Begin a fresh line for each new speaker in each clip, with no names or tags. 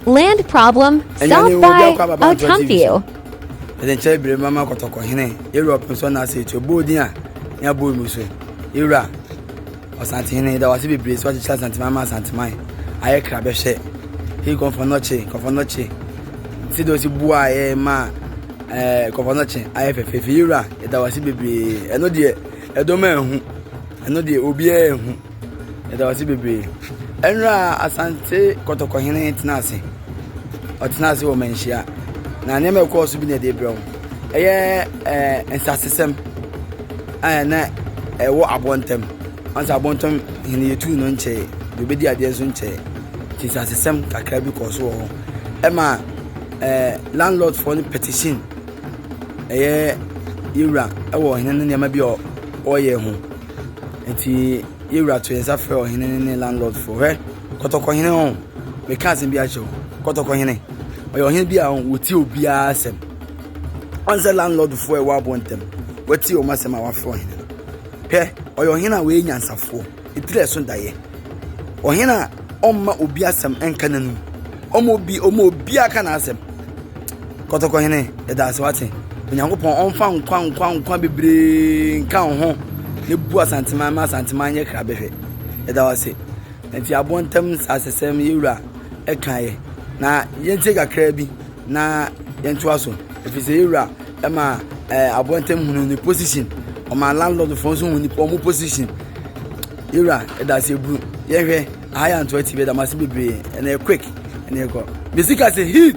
Land problem solved by Otampio. Ɛdɛ nkyɛn
bere mama kɔtɔkɔ hene Europe nso na ase etu bɔɔ din a ne abɔ mu so ewura ɔsante hene da wase bebree so akyekyɛ asante mama asante man ayɛ kra bɛhwɛ he kɔnfɔ nɔkye kɔnfɔ nɔkye si de osi bu a yɛ ma ɛɛ kɔnfɔ nɔkye ayɛ fɛfɛɛfɛ ewura ɛda wase bebree ɛno deɛ ɛdɔm ɛho ɛno deɛ obiara ɛho. Yɛda wo ase bebree. Ɛnora Asante Kɔtɔkɔhene tena ase. Ɔtena ase wɔ manhyia. Na nneɛma ɛkɔɔ so bi na ɛde brɛ wo. Ɛyɛ ɛɛ eh, nsasesɛm a na ɛwɔ abɔntam. Ɔnsa abɔntam hene yɛtu no nkyɛe. Deɛ ɔbɛdi adeɛ nso nkyɛe. Nti nsasesɛm kakra bi kɔɔ so wɔ hɔ. Ɛma ɛɛ eh, landlordfoɔ no petition ɛyɛ yɛwura ɛwɔ hene no nneɛma bi a ɔyɛ ho. Enti yɛn wura to yɛn nsa frɛ ɔhene no ne landlord fo hwɛ kɔtɔkɔhene ho meka asɛm bi akyerɛ wo kɔtɔkɔhene ɔyɛ ɔhene bi a wɔtie obiara asɛm ɔn sɛ landlord fo a ɛwɔ aboɔ ntɛm wɔatie wɔn asɛm a wɔafrɛ ɔhene no hwɛ ɔyɛ ɔhene a wɔyɛ nyansafoɔ ɛtiri ɛso daeɛ ɔhene a ɔmma obi asɛm ɛnka n'anum ɔma obi ɔma obiara ka n'asɛm Kɔtɔkɔhene, yɛda ase wate. Onyankopɔn ɔmfa nkwa nkwa nkwa bebree nka wo ho na bu Asanteman ma Asanteman nyɛ krabɛhwɛ. Yɛda wase. Nti aboɔ ntam asesɛm yɛwura ɛkaeɛ na yɛntie kakraa bi na yɛntoa so ɛfiri sɛ yɛwura ɛma ɛɛ aboɔ ntam hunu ne position ɔma landlord fo nso hu nipa ɔmo position yɛwura yɛda ase eburu yɛhwɛ aha yɛ antoa tv yɛda mo ase bebree ɛna yɛ quick ɛna yɛkɔ mesika se heat.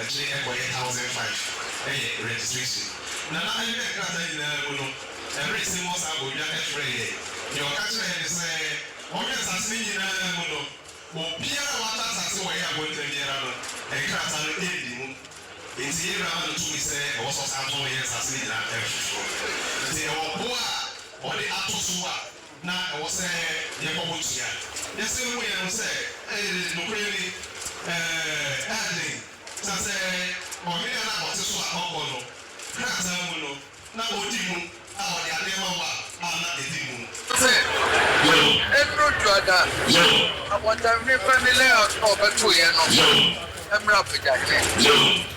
Akyire ɛkɔyɛ thousand five ɛyɛ registration. Nana ɛne ne nkrataa nyinaa mu no ɛbere sɛ mɔ saa bɔdwa ɛfrɛ yɛn. Deɛ ɔka kyerɛ yɛn ne sɛ ɔhwɛ nsase no nyinaa mu no obiara a watɔ asase wɔ yɛn abɔntene biara no nkrataa no ɛnni mu. Nti yɛn wura ma no tumi sɛ ɛwɔ sɛ ɔsan tɔn yɛn nsase no nyinaa ɛfoforɔ. Nti ɛwɔ boɔ a ɔde ato so a. na ɛwɔ sɛ yɛbɔ ho tua. Yɛse no moyɛ no sɛ ɛyɛ nokorɛ ni, ɛɛ ɛɛden sa sɛ ɔhene a na ɔte so a ɔbɔ no krataa mu no na ɔdi mu a ɔde adeɛ ma wo a a na ɛdi mu. Se ɛduru Dwada abɔntanhwene family house na ɔbɛtoo yɛn no, ɛmmra Abuja hene.